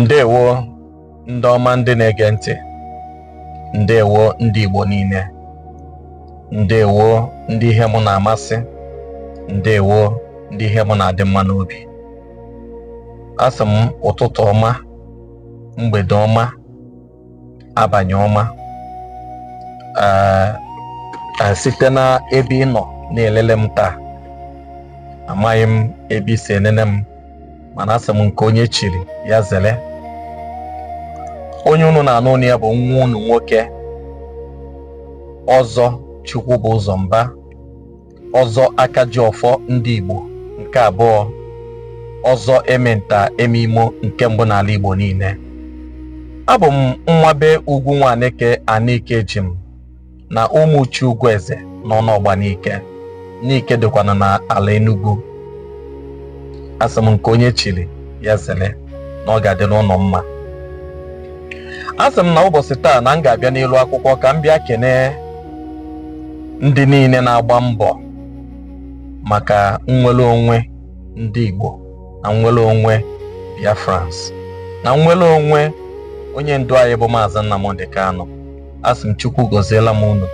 ndewo ndị ọma ndị na-ege ntị ndewo ndị Igbo niile ndewo ndị ihe mụ na-amasị ndewo ndị ihe mụ na-adị mma n'obi asị m ụtụtụ ọma mgbede ọma abanị ọma eh, eh, site na ebe ị nọ na-elele m taa amaghị m ebe i si enene m mana asị m nke onye chiri ya zere onye unu na-anụ onu ya bụ nwa unu nwoke Ọzọ Chukwubụzọ Mba ọzọ aka ji ọfọ ndị Igbo nke abụọ ọzọ eme nta eme imo nke mbụ n'ala Igbo niile abụ m nwa be Ugwu Nwaneke Anike esi m na ụmụ uchi ugwu eze na Ọnụọgba Nike Nike dịkwanụ na ala Enugu asị m nke onye chiri ya zere na ọ ga-adịrị ụnụ mma asị m na ụbọchị taa na m ga-abịa n'iru akwụkwọ ka m bịa kenee ndị niile na-agba mbọ maka nnwere onwe ndị Igbo na nnwere onwe Biafrans na nnwere onwe onye ndu anyị bụ Maazị Nnamdi Kanu asị m Chukwu gọzielụ m unu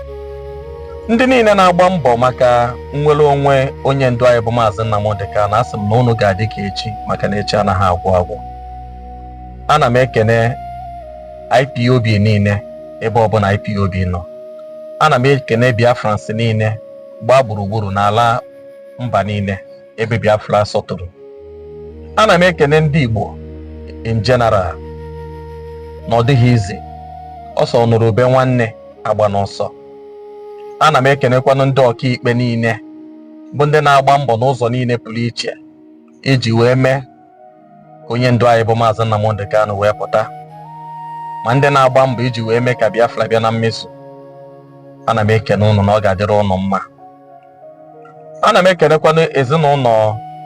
ndị niile na-agba mbọ maka nnwere onwe onye ndu anyị bụ Maazị Nnamdi Kanu asị m na unu ga-adị ka echi maka na echi anaghị agwụ agwụ ana m ekene IPOB niile ebe ọbụla IPOB nọ ana m ekene Biafrans niile gbaa gburugburu n'ala mba niile ebe Biafra sọtụrụ ana m ekene ndị Igbo in general na ọ dịghị easy ọ sị ọ nụrụ ube nwanne agbana ọsọ ana m ekenekwanụ ndị ọkaikpe niile bụ ndị na-agba mbọ n'ụzọ niile pụrụ iche iji wee mee onye ndu anyị bụ maazị Nnamdi Kanu wee pụta ma ndị na-agba mbọ iji wee mee ka Biafra bịa na mmezu ana m ekene ụnụ na ọ ga-adịrị ụnụ mma ana m ekenekwanụ ezinụlọ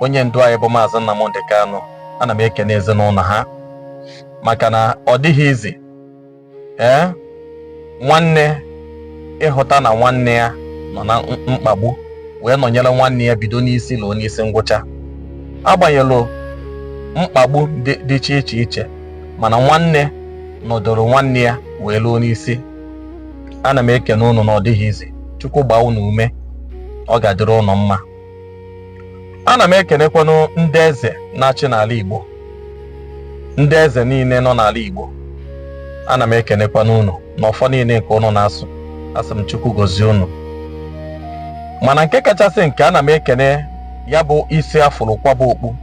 onye ndu anyị bụ maazị Nnamdi Kanu ana m ekene ezinụlọ ha maka na ọ dịghị easy ee nwanne ịhụta na nwanne ya nọ na mkpagbu wee nọnyere nwanne ya bido n'isi luo n'isi ngwụcha agbanyelụ mkpagbu dị iche iche iche mana nwanne nọdụrụ nwanne ya wee luo n'isi ana m ekene unu na ọ dịghị easy chukwu gbaa unu ume ọ ga-adịrị ụnụ mma ana m ekenekwanụ ndị eze na-achị n'ala Igbo ndị eze niile nọ n'ala Igbo ana m ekenekwanụ unu na ọfọ niile nke unu na-asụ asị m Chukwu gozie unu mana nke kachasị nke ana m ekene ya bụ isi a fụrụ kwaba okpu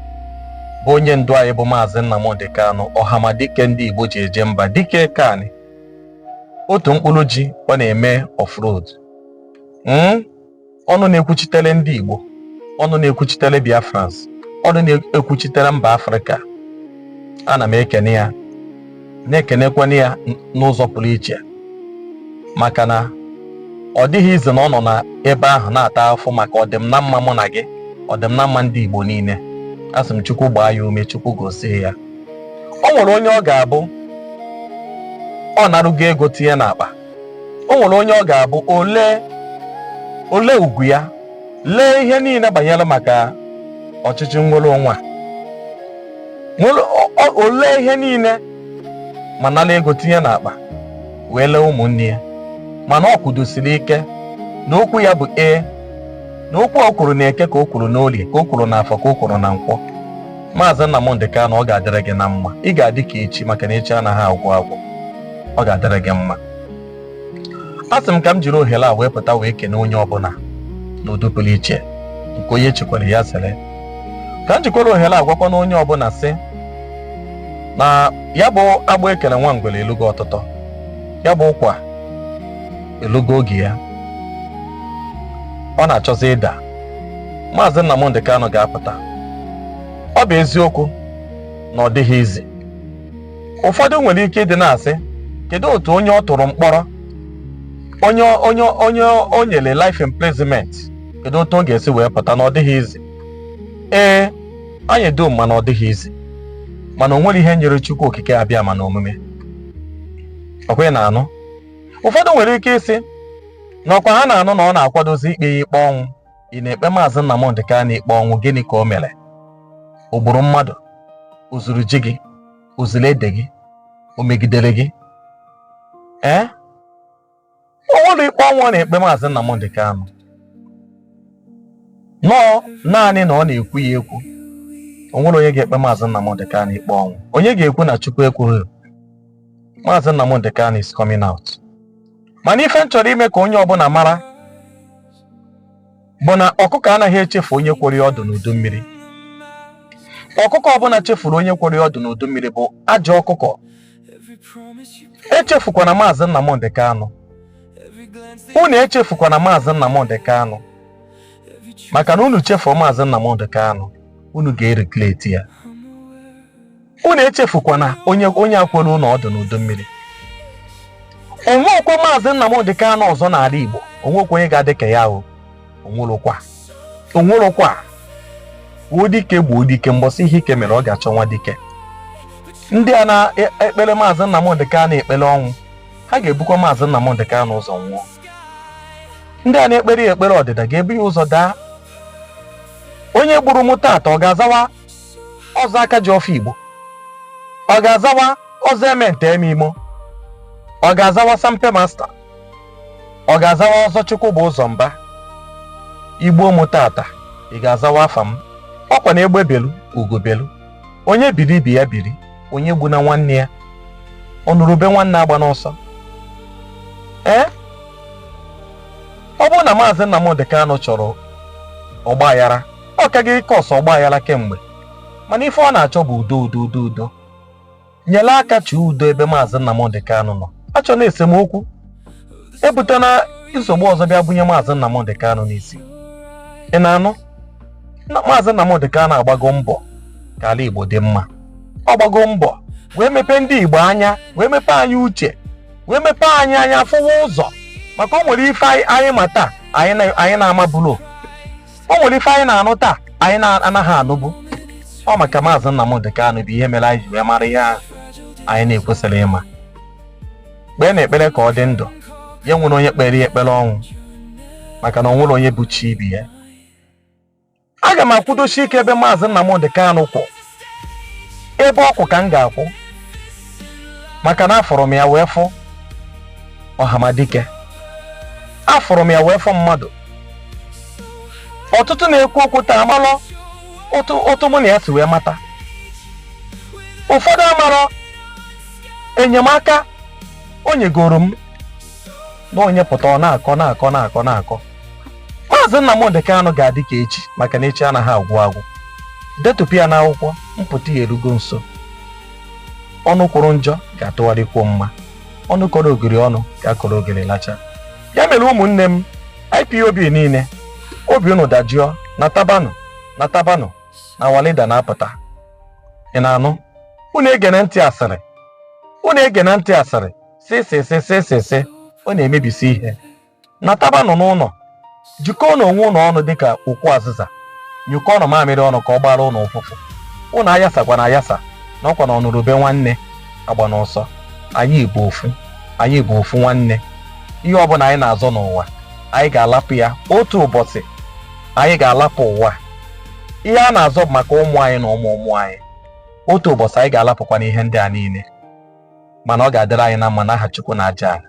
bụ onye ndu anyị bụ maazị Nnamdi Kanu ọhamadike ndị Igbo ji eje mba dike kani otu mkpụrụ ji ọ na-eme ọ fụrọ ọdụ? ọnụ na-ekwuchitere ndị Igbo ọnụ na-ekwuchitere Biafrans ọnụ na-ekwuchitere mba Afrịka ana m ekene ya na-ekenekwana ya n'ụzọ pụrụ iche maka na ọ dịghị easy na ọ nọ n'ebe ahụ na-ata afụfụ maka ọdịm na mma mụ na gị ọdịm na mma ndị Igbo niile asị m Chukwu gbaa ya ume Chukwu gozie ya o nwere onye ọ ga-abụ ọ narugo ego tinye n'akpa o nwere onye ọ ga-abụ o lee o lee ugwu ya lee ihe niile banyere maka ọchịchị nnwere onwe a o lee ihe niile ma nala ego tinye n'akpa wee lee ụmụnne ya mana ọ kwụdosiri ike na okwu ya bụ ee na okwu o kwuru na eke ka o kwuru n'olie ka o kwuru na afọ ka o kwuru na nkwọ maazị Nnamdi Kanu ọ ga-adịrị gị na mma ị ga-adị ka echi maka na echi anaghị agwụ agwụ ọ ga-adịrị gị mma asị m ka m jiri ohere a wee pụta wee kene onye ọbụla n'ụdị pụrụ iche nke onye chikwara ya zere ka m jikwara ohere a gwakwanụ onye ọbụla sị na ya bụ agbụ e kele nwa ngwere elugo ọtụtọ ya bụ ụkwa elugo oge ya ọ na-achọzi ịda maazị Nnamdi Kanu ga-apụta ọ bụ eziokwu na ọ dịghị easy ụfọdụ nwere ike ịdị na-asị kedu otu onye ọ tụrụ mkpọrọ onye o nyere life imprisonment kedu otu ọ ga-esi wee pụta na ọ dịghị easy ee anyị dum ma na ọ dịghị easy mana o nwere ihe nyịrị Chukwu Okike Abịama na omume ọkwa ị na-anụ ụfọdụ nwere ike ịsị na ọkwa ha na-anụ na ọ na-akwadozi ikpe ya ikpe ọnwụ ị na-ekpe maazị Nnamdi Kanu ikpe ọnwụ gịnị ka o mere o gburu mmadụ o zuru ji gị o zuru ede gị o megidere gị ee o nwere ikpe ọnwụ ọ na-ekpe maazị Nnamdi Kanu no naanị na ọ na-ekwu ya ekwu o nwere onye ga-ekpe maazị Nnamdi Kanu ikpe ọnwụ onye ga-ekwu na Chukwu ekwughị maazị Nnamdi Kanu is coming out mana ife m chọrọ ime ka onye ọbụla mara bụ na ọkụkọ anaghị echefu onye kworo ya ọdụ n'udu mmiri ọkụkọ ọbụla chefuru onye kworo ya ọdụ n'udu mmiri bụ ajọ ọkụkọ echefukwana maazị Nnamdị Kanụ unu echefukwana maazị Nnamdị Kanụ maka na unu chefuo maazị Nnamdị Kanụ unu ga-eregret ya unu echefukwana onye onye a kworo unu ọdụ n'udu mmiri o nwekwa maazị Nnamdị Kanụ ọzọ n'ala Igbo o nwekwa onye ga-adị ka ya o o nwerọkwa o nwerọkwa gbuo dike gbuo dike mbọsị ihe ike mere ọ ga-achọ nwa dike ndị a na-ekpere maazị Nnamdị Kanụ ekpere ọnwụ ha ga-ebukwa maazị Nnamdị Kanụ ụzọ nwụọ ndị a na-ekpere ya ekpere ọdịda ga-ebu ya ụzọ daa onye gburu m taata ọ ga-azawa ọzọ Akajiọfọ Igbo ọ ga-azawa ọzọ eme nta eme imo ọ ga-azawa Sampe Master ọ ga-azawa ọzọ Chukwubụzọ Mba i gbuo mụ taata ị ga-azawa afa m ọ kwa na egbe belu ugo belu onye biri ibe ya biri onye egbuna nwanne ya ọ nụrụ ube nwanne agbana ọsọ ee eh? ọ bụrụ na maazị Nnamdi Kanu chọrọ ọgba aghara ọ ka ga-ecause ọgbaghara kemgbe mana ife ọ na-achọ bụ udo udo udo udo nyere aka chụọ udo ebe maazị Nnamdị Kanụ nọ achọna esemokwu ebutena nsogbu ọzọ bịa bunye maazị Nnamdị Kanụ n'isi ị na-anụ na maazị Nnamdị Kanụ agbago mbọ ka ala Igbo dị mma ọ gbago mbọ wee mepee ndị Igbo anya wee mepee anyị uche wee mepee anyị anya fụwa ụzọ maka o nwere ife anyị ma taa anyị na-amaburo o nwere ife anyị na-anụ taa anyị na-anaghị anụbu ọ maka maazị Nnamdị Kanụ bụ ihe mere anyị ji wee mara ihe ahụ anyị na-ekwesịrị ịma kpeenụ ekpere ka ọ dị ndụ ya enwela onye kpeere ya ekpere ọnwụ maka na o nwerọ onye bụ chi ibe ya aga m akwụdosi ike ebe maazị Nnamdị Kanụ kwụ ebe ọ kwụ ka m ga-akwụ maka na afụrụ m ya wee fụ ọhamadike afụrụ m ya wee fụ mmadụ ọtụtụ na-ekwu okwu taa amalọ otu otu mụ na ya si wee mata ụfọdụ amarọ enyemaka o nyegoro m na onye pụta ọ na-akọ na-akọ na-akọ na-akọ maazị Nnamdị Kanụ ga-adị ka echi maka na echi anaghị agwụ agwụ detụpụ ya n'akwụkwọ mpụta ya erugo nso ọnụ kwuru njọ ga-atụgharị kwuo mma ọnụ kọrọ ogiri ọnụ ga-akọrọ ogiri lacha ya mere ụmụnne m IPOB niile obi unu dajụọ natabanụ natabanụ na our leader na-apụta ị na-anụ unu egene ntị asịrị unu egene ntị asịrị sị sị sị sị sị sị ọ na-emebisi ihe natabanụ n'ụlọ jikọọnụ onwe unu ọnụ dịka ukwu azịza nyụkọọnụ mamịrị ọnụ ka ọ gbaara unu ụfụfụ unu ayasakwana ayasa na ọkwa na ọnụrụ ube nwanne agbana ọsọ anyị bụ ofu anyị bụ ofu nwanne ihe ọbụla anyị na-azọ n'ụwa anyị ga-alapụ ya otu ụbọchị anyị ga-alapụ ụwa ihe a na-azọ bụ maka ụmụ anyị na ụmụ ụmụ anyị otu ụbọchị anyị ga-alapụkwanụ ihe ndị a niile mana ọ ga-adịrị anyị na mma n'aha Chukwu na aja ala